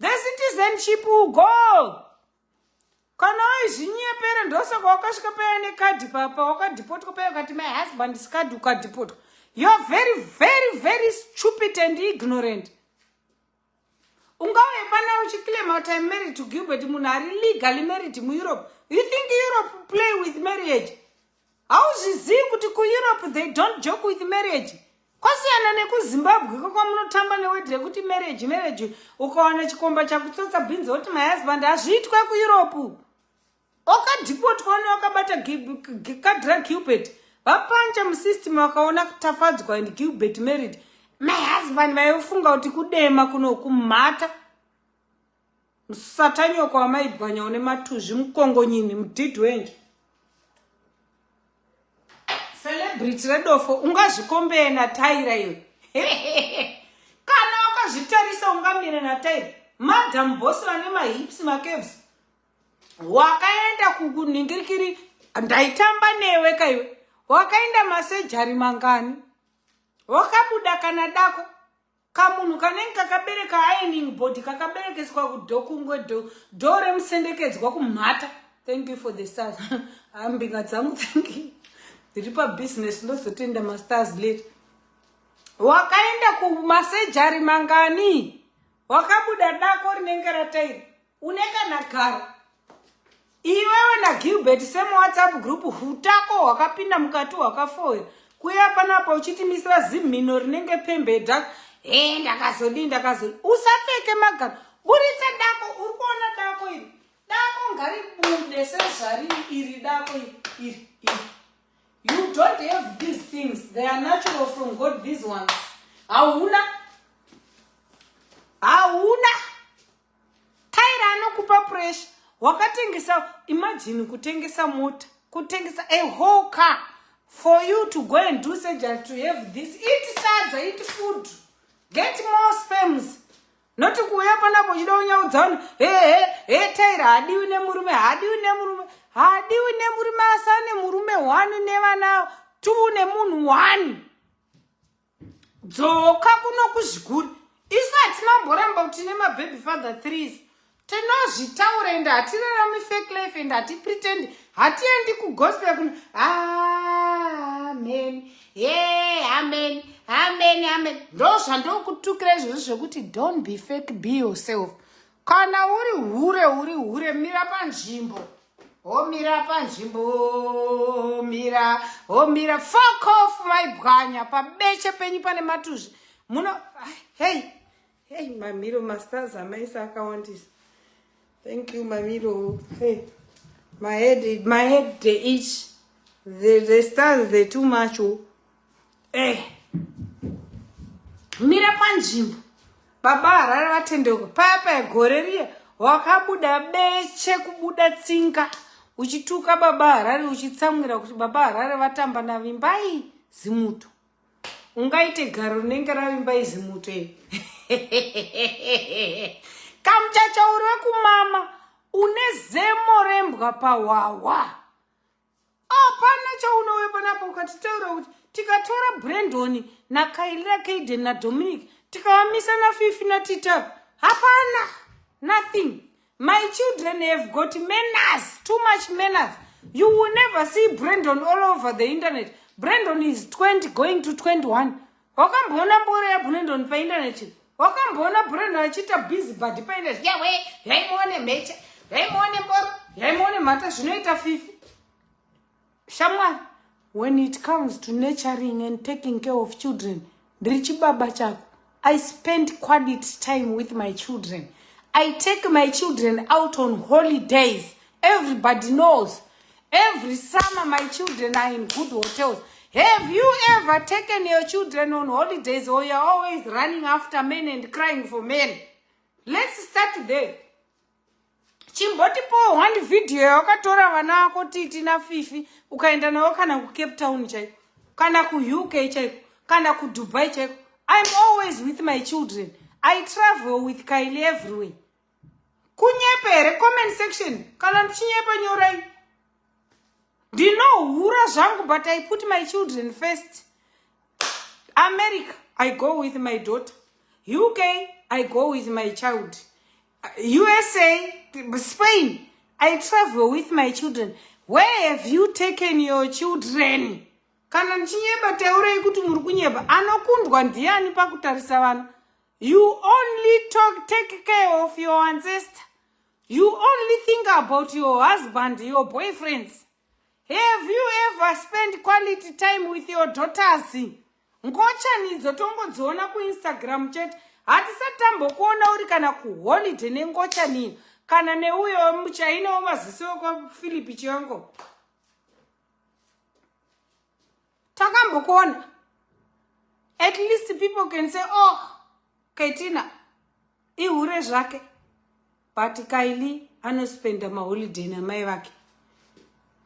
The citizenship will go. Kana waizvinyepera ndosaka wakasvika paya nekadhi papa wakadhipotwa paya ukati my husband skadhi ukadhipotwa. You're very very very stupid and ignorant. Ungave pana uchiclaim out I'm married to Gilbert munhu ari legally married muEurope. You think Europe play with marriage? hauzvizivi kuti kueurope they don't joke with marriage kwasiyana nekuzimbabwe ko kwamunotamba newedhi rekuti marriage marriage ukawana chikomba chakutsotsa bhinzi woti my husband hazviitwe kueurope wakadhipotwa une wakabata kadra gilbert vapanja musystem vakaona kutafadzwa and gilbert married my husband vaifunga kuti kudema kuno kumhata Msatanyoka wamaibwanya une matuzvi mukongonyini mudhidhi wenje. Celebrity redofo ungazvikombeye nataira iwe. Kana wakazvitarisa ungamire nataira. Madam boss vane mahips macaves. Wakaenda kukuningirikiri ndaitamba newe kaiwe. Wakaenda masejari mangani. Wakabuda kana dako. kamunhu kanenge kakabereka ironing body kakaberekeswa kudo kungwe do do remusendekedzwa kumhata thank you for the stars ambinga dzangu thank you ndiri pabusiness ndozotenda mastars late wakaenda kumasejari mangani wakabuda dako rinenge ratairi Une kana garo. Iwewe na Gilbert same WhatsApp group hutako hwakapinda mukati hwakafoya. Kuya panapa uchitimisira zimhino rinenge pembedha. Eh ndakazodii ndakazodii. Usapfeke magaro. Buritsa dako uri kuona dako iri. Dako ngaribude sezvari iri dako iri iri. You don't have these things. They are natural from God these ones. Hauna hauna Tyra anokupa pressure wakatengesa imagine kutengesa mota kutengesa a whole car for you to go and do surgery to have this iti sadza iti food get more sperms not kuuya panapo uchida unyaudza vanhu hehe he Tyra hadiwi nemurume hadiwi nemurume hadiwi nemurume asane murume one nevana two nemunhu one dzoka kuno kuzvikuri isu hatinamboramba kuti tine mababy father threes tinozvitaura ende hatirarami fake life ende hatipretendi hatiendi kugospel kuno amen ye amen amen amen ndo zvandokutukira izvozvo zvekuti don't be fake be yourself Kana uri hure uri hure mira panzvimbo. Omira panzvimbo omira omira fuck off maibwanya pabeche penyu pane matuzvi muno hey hey mamiro masters amaisa akawandisa thank you mamiro hey my head my head the each the, the stars the too much oh. eh mira panzvimbo baba harare vatendeuka paya paya gore riya wakabuda beche kubuda tsinga uchituka baba harare uchitsamwira kuti baba harare vatamba navimbai zimuto ungaite garo rinenge ravimbai zimuto e kamuchachauri wekumama une zemo rembwa pahwahwa hapana chaunoweba napo ukatitaura kuti tikatora brandon nakailira kaiden nadominic tikavamisa nafifi natitaru hapana nothing my children have got manners too much manners you will never see brandon all over the internet brandon is 20 going to 21 wakamboona mboro yabunendoni paindaneti wakamboona breno achiita busy body paindaneti yawe yaimuone mhecha yaimuone mboro yaimuone mhata zvinoita fifi shamwari when it comes to naturing and taking care of children ndiri chibaba chako i spend quality time with my children i take my children out on holidays Everybody knows. Every summer, my children are in good hotels. Have you ever taken your children on holidays or you're always running after men and crying for men? Let's start there. chimbotipowo one video yawakatora vana vako titi nafifi ukaenda navo kana kucape town chaiko kana kuuk chaiko kana kudubai chaiko iam always with my children i travel with kaili everywhere kunyepa here comment section kana ndichinyepa nyorai ndinohura zvangu but i put my children first america i go with my daughter uk i go with my child usa spain i travel with my children where have you taken your children kana ndichinyepa teurei kuti muri kunyepa anokundwa ndiani pakutarisa vana You only talk, take care of your ancestor. You only think about your husband, your boyfriends. Have you ever spent quality time with your daughters? Ngochani idzo tongodziona kuInstagram chete. Hatisati tambokuona uri kana kuholiday nengochani kana neuyo muchaina wemaziso wekwaPhilip Chiongo. takambokuona at least people can say oh ketina ihure zvake but kaili anospenda maholiday namai vake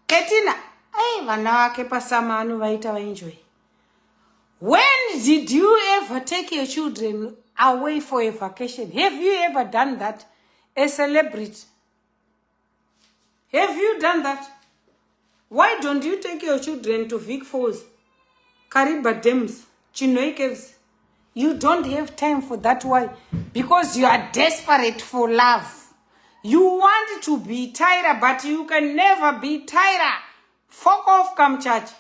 ketina ai vana vake pasama anovaita vaenjoy when did you ever take your children away for a vacation have you ever done that a celebrity have you done that why don't you take your children to vic falls kariba dams chinoi caves you don't have time for that why because you are desperate for love you want to be tyra but you can never be tyra fok off come church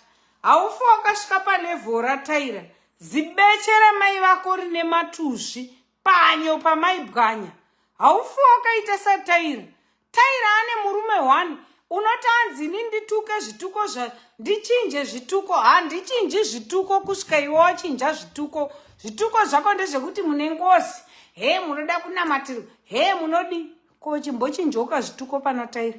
haufi wakasvika palevel rataira zibeche ramai vako rine matuzvi panyo pamai bwanya haufi wakaita sataira taira ane murume one unoti anzi ini ndituke zvituko ndichinje zvituko handichinji zvituko kusvika iwe wachinja zvituko zvituko zvako ndezvekuti mune ngozi hee munoda kunamatirwa hee munodi ko chimbochinjoka zvituko panotaira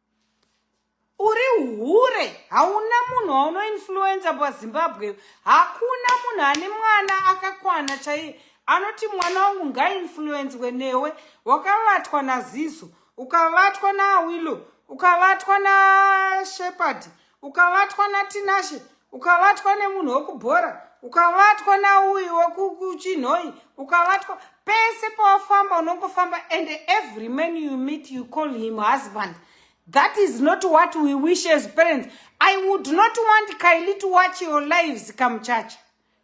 uri hure hauna munhu waunoinfluenza pazimbabwe hakuna munhu ane mwana akakwana chaiye anoti mwana wangu ngainfluenzwe newe wakavatwa nazizo ukavatwa naawillow ukavatwa nashepard ukavatwa natinashe ukavatwa nemunhu wekubhora ukavatwa nauyu wekuchinhoi ukavatwa pese pawafamba unongofamba and every man you meet you call him husband that is not what we wish as parents i would not want kaili to watch your lives come church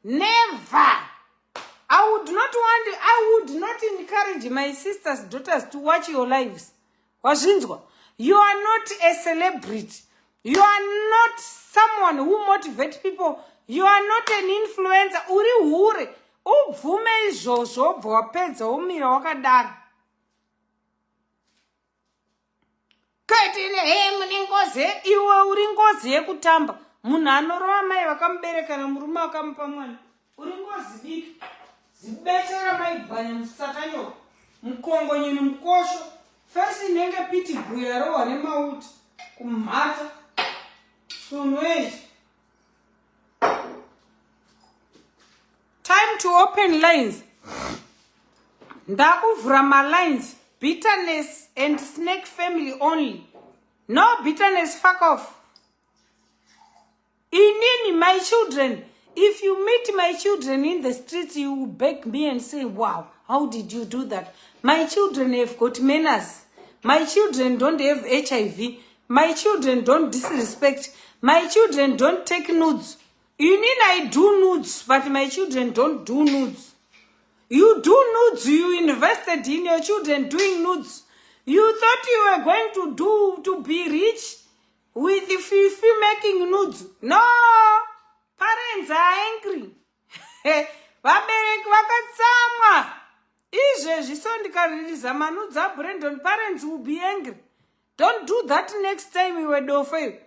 never i would not want i would not encourage my sisters daughters to watch your lives wazvinzwa you are not a celebrity you are not someone who motivate people you are not an influencer uri hure ubvume izvozvo obva wapedza womira wakadaro kaitire he mune ngozi iwe uri ngozi yekutamba munhu anorova mai vakamuberekana murume akamupa mwana Uri ngozi diki. Zibetera maibwanya musatanyoka. Mukongonyeni mukosho. Fesi inenge piti bhuya rohwa nemauti. Kumhata. Sunweji. Time to open lines. Ndakuvhura malines. Bitterness and snake family only. No bitterness, fuck off. inini my children if you meet my children in the streets you will beg me and say wow how did you do that my children have got manners my children don't have hiv my children don't disrespect my children don't take nudes you mean i do nudes but my children don't do nudes you do nudes you invested in your children doing nudes you thought you were going to do to be rich with fifi making nudes no parents are angry vabereki vakatsamwa izvezvi so ndikaririza manudzi abrandon parents will be angry don't do that next time iwe dofo iwe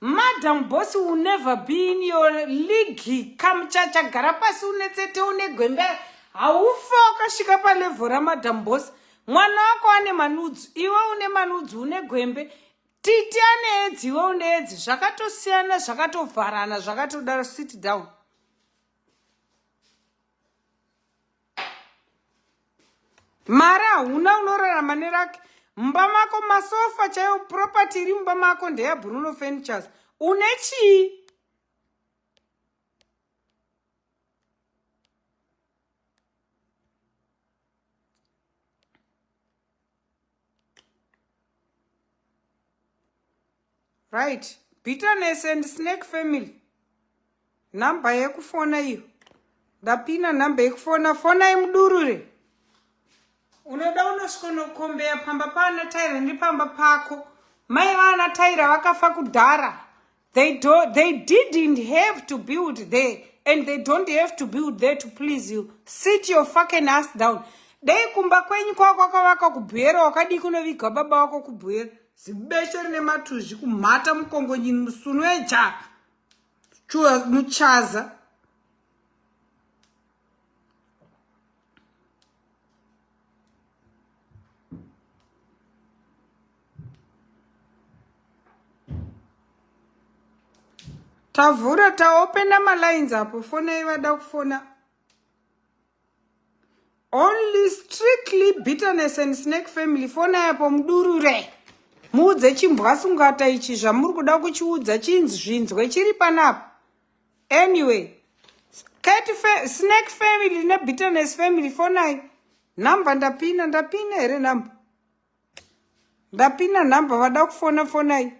Madam boss will never be in your league kamuchacha gara pasi unetsete unegwembe haufa wakasvika palevho ramadam boss mwana wako ane manudzu iwe une manudzu une gwembe titi ane edzi iwe une edzi zvakatosiyana zvakatovharana zvakatodaro sit down mari hauna unorarama nerake mumba mako masofa chaiyo property iri mumba mako ndeyabruno furnitures une chii right bitterness and snake family number yekufona iyo ndapina number yekufona fonai mudurure unoda unosvikonokombeya pamba paana taira ndipamba pako mai vaana taira vakafa kudhara They, do, they didn't have to build there and they don't have to build there to please you. Sit your fucking ass down. Dei kumba kwenyu kwako kwakavaka kubhuyera wakadii kunoviga baba wako kubhuyera. Zibeshe rine matuzvi kumhata mukongo nyini musunu eja. Chua muchaza. tavhura taopena malines apo fona ivada kufona only strictly bitterness and snake family fona yapo mudurure muudze chimbwasungata ichi zvamuri kuda kuchiudza chinzvinzwe chiri panapa anyway cat fa snake family nebitterness family fonai number ndapina ndapina here number ndapina number vada kufona fonai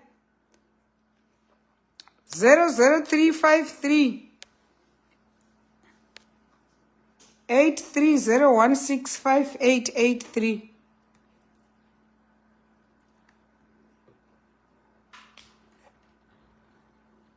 00353 83016588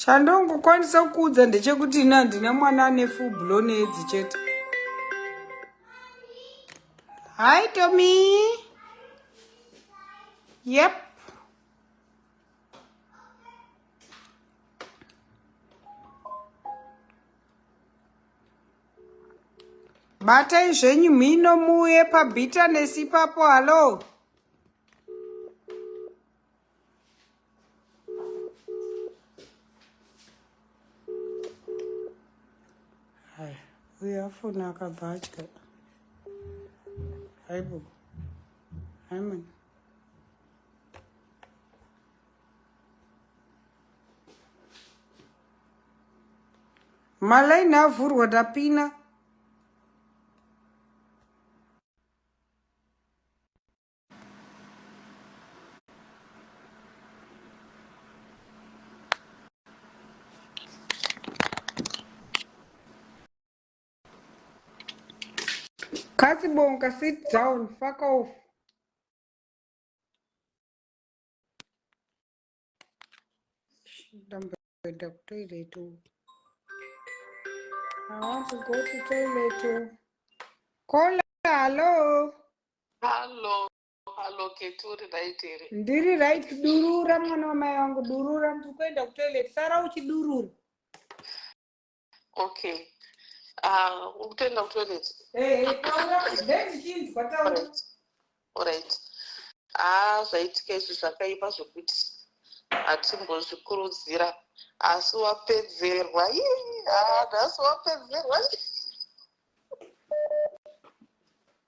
chandongokwanisa kuudza ndechekuti ini handina mwana ane full blown edzi chete hi tomi yep batai zvenyu mhino muuye pabhitanesi ipapo hallo uyo afona akabva atya haibo haimana malaini avhurwa tapina Kasi bonka sit down fuck off ndamboenda kutoilet i want to go to toilet kola hallo hallo hallo keturi right here ndiri right durura mwana wamai wangu durura ndiri kuenda kutoilet sara uchidurura okay ah, ukutoenda kutoilet eh, orit haa ah, zvaitika izvi zvakaipa zvekuti hatimbozvikurudzira asi wapedzerwa ah, nhasi wapedzerwa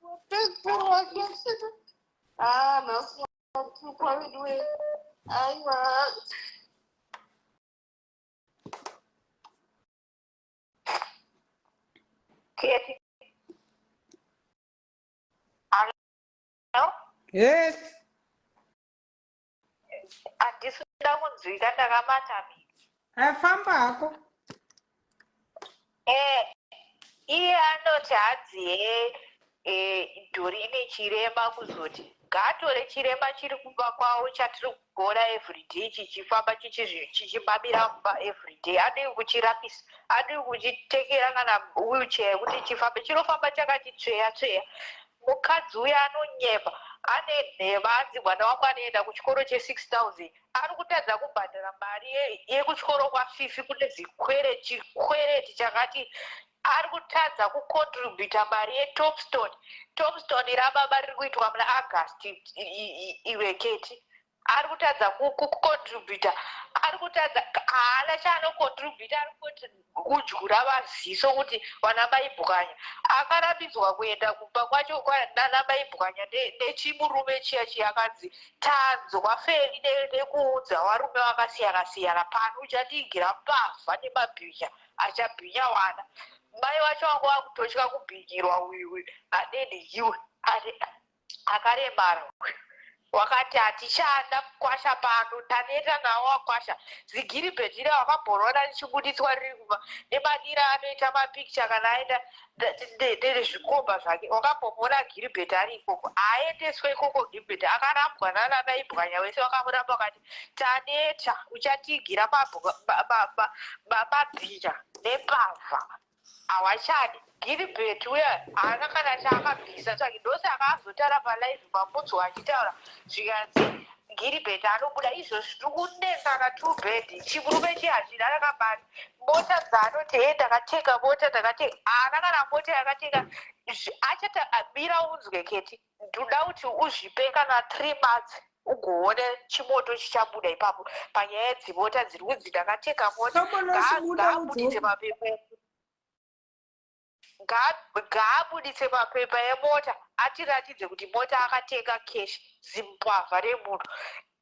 wapedzerwa haa nhasi watukwa veduwe aiwa Yes. Handisi kuda kunzwika ndakamata mi. Afamba hako. Eeh iye anoti hadzi hee dori ine chirema kuzoti ngaatore chirema chiri kumba kwavo chatiri kuona everyday chichifamba chichimamira mumba everyday adii kuchirapisa adii kuchitengera kana wheelchair yekuti chifambe chinofamba chakati tsveya tsveya mukadzi uya anonyepa ane nhema anzi mwana wangu anoenda kuchikoro che 6000 ari kutadza kubhadhara mari yekuchikoro kwafifi kune zvikwere chikwereti chakati ari kutadza kucontributa mari yetopston topston rababa riri kuitwa muna august iveketi ari kutadza kucontributa ari kutadza haana chaanocontributa ari kuti kudyura vaziso kuti vana baibwanya akarambidzwa kuenda kumba kwacho nana baibwanya nechimurume chiya chiya akanzi tanzwa feli nekuudza varume vakasiyana siyana pano uchatiigira mbavha nemabhinya achabhinya wana mai vacho vanga vakutotya kubhinyirwa uyu adini iwe akaremara uyu wakati hatichada kukwasha pano taneta nawo wakwasha zigiribheti ira wakabhorona richibuditswa riri kuba nemanira anoita mapikicha kana aenda nezvikomba zvake wakambomona giribheti ari ikoko haaendeswe ikoko giribheti akarambwa nananaibwanya wese wakamuramba wakati taneta uchatigira mabhinya nepavha Hawachadi. Gilbert uya haana kana chaakabvisa tsvaki ndose akaazotara palive mamudzwa achitaura zvikanzi Gilbert anobuda izvozvi tiri kunetsana two bed chikurume chiye hachina rakabari mota dzaanoti hee ndakatenga mota ndakatenga haana kana mota yakatenga Zvi- achata mira unzwe keti Ndoda kuti uzvipe kana three months ugoone chimoto chichabuda ipapo panyaya yedzimota dziri kunzi ndakatenga mota ngaabuditse mapepa ngaabuditse mapepa emota atiratidze kuti mota akatenga cash zimbwavha remunhu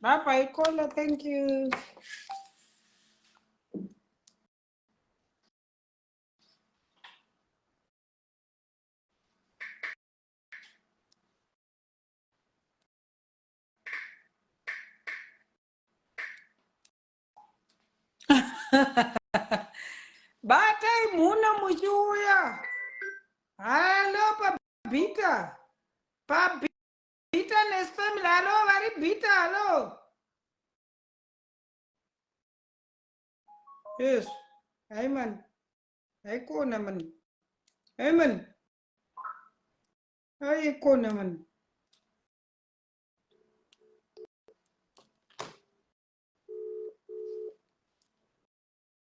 Bye bye, Kola. Thank you. batai mhuna muchiuya halo pabhita pabhita Bitterness family, hello, vari bitter, hello. Yes, hi man. Hi kona man. Hi man. Hi kona man.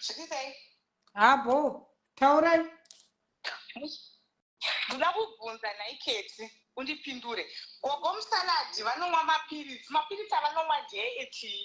Zvipisei. Habo, taurai. Ndoda kubvunza nhai Keti, undipindure. Gogo musaladi vanomwa mapiritsi, mapiritsi avanomwa ndeye etii?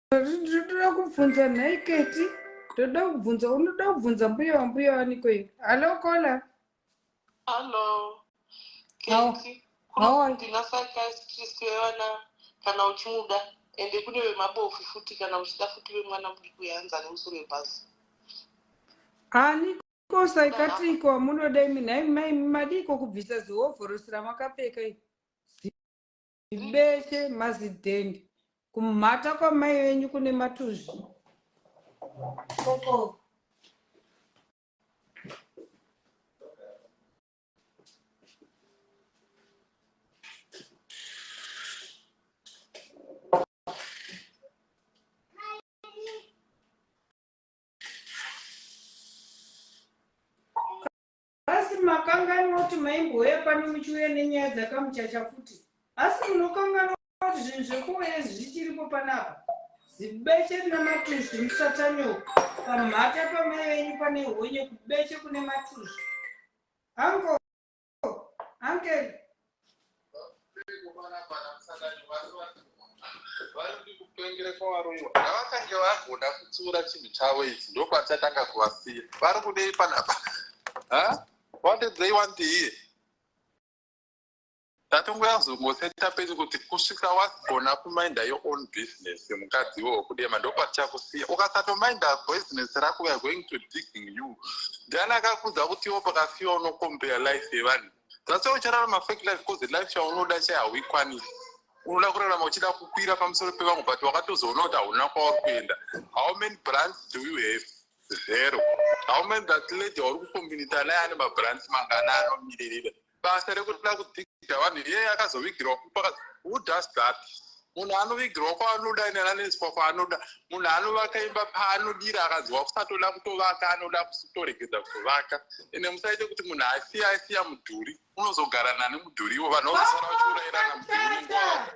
ndoda kubvunza nhai keti ndoda kubvunza unoda kubvunza mbuya wambuya waniko iyi hallo kola hallo keti kunondinasakaiskristu yevana kana uchimuda ende kune vemabofu futi kana uchida futi vemwana mudiki uyanza nemusoro webhazi aniko saikatiko amunoda imi nhai mai madiko kubvisa zihovhorosi ramakapfeka ii Beshe mazidhende kumhata kwamai venyu kune matuzvi Asi makanganwa kuti maimbouya pano muchiuya nenyaya dzakamuchacha futi. Asi munokanganwa kuti zvinhu zvekuuya izvi zvichiripo panapa. Zibeche rina matuzvi musatanyoko. Pamhata pamai venyu pane honye kubeche kune matuzvi. Anko, ankel, Ngavatange vagona kutsiura chinhu chavo ichi ndokwatichatanga kuvasiya vari kudei panapa what did they want here tatonguyazongoseta peti kuti kusvika wagona kuminda your own business mukadzi wo kudema ndopatichakusiya ukasatominda business rako weare going to digging you ndiani akakudza kuti iwo pakasiwa unocompare life yevanhu that's why uchararama fake life because the life chaunoda chai hauikwanisi unoda kurarama uchida kukwira pamusoro pevamwe but wakatozoona kuti hauna kwauri kuenda how many brands do you have zero how many that lady wauri kukombinita naye ane mabrands mangana anomiririra basa rekuda kudzikita vanhu iyeye akazovigirwa kupa who does that munhu anovigirwa kwaanoda ine ananoiswa kwaanoda munhu anovaka imba paanodira akanzwa kusatoda kutovaka anoda kutoregedza kutovaka ende musaite kuti munhu asiya asiya mudhuri unozogara nani mudhuriwo vanhu vozosara vachiurairana mudhuri nenguva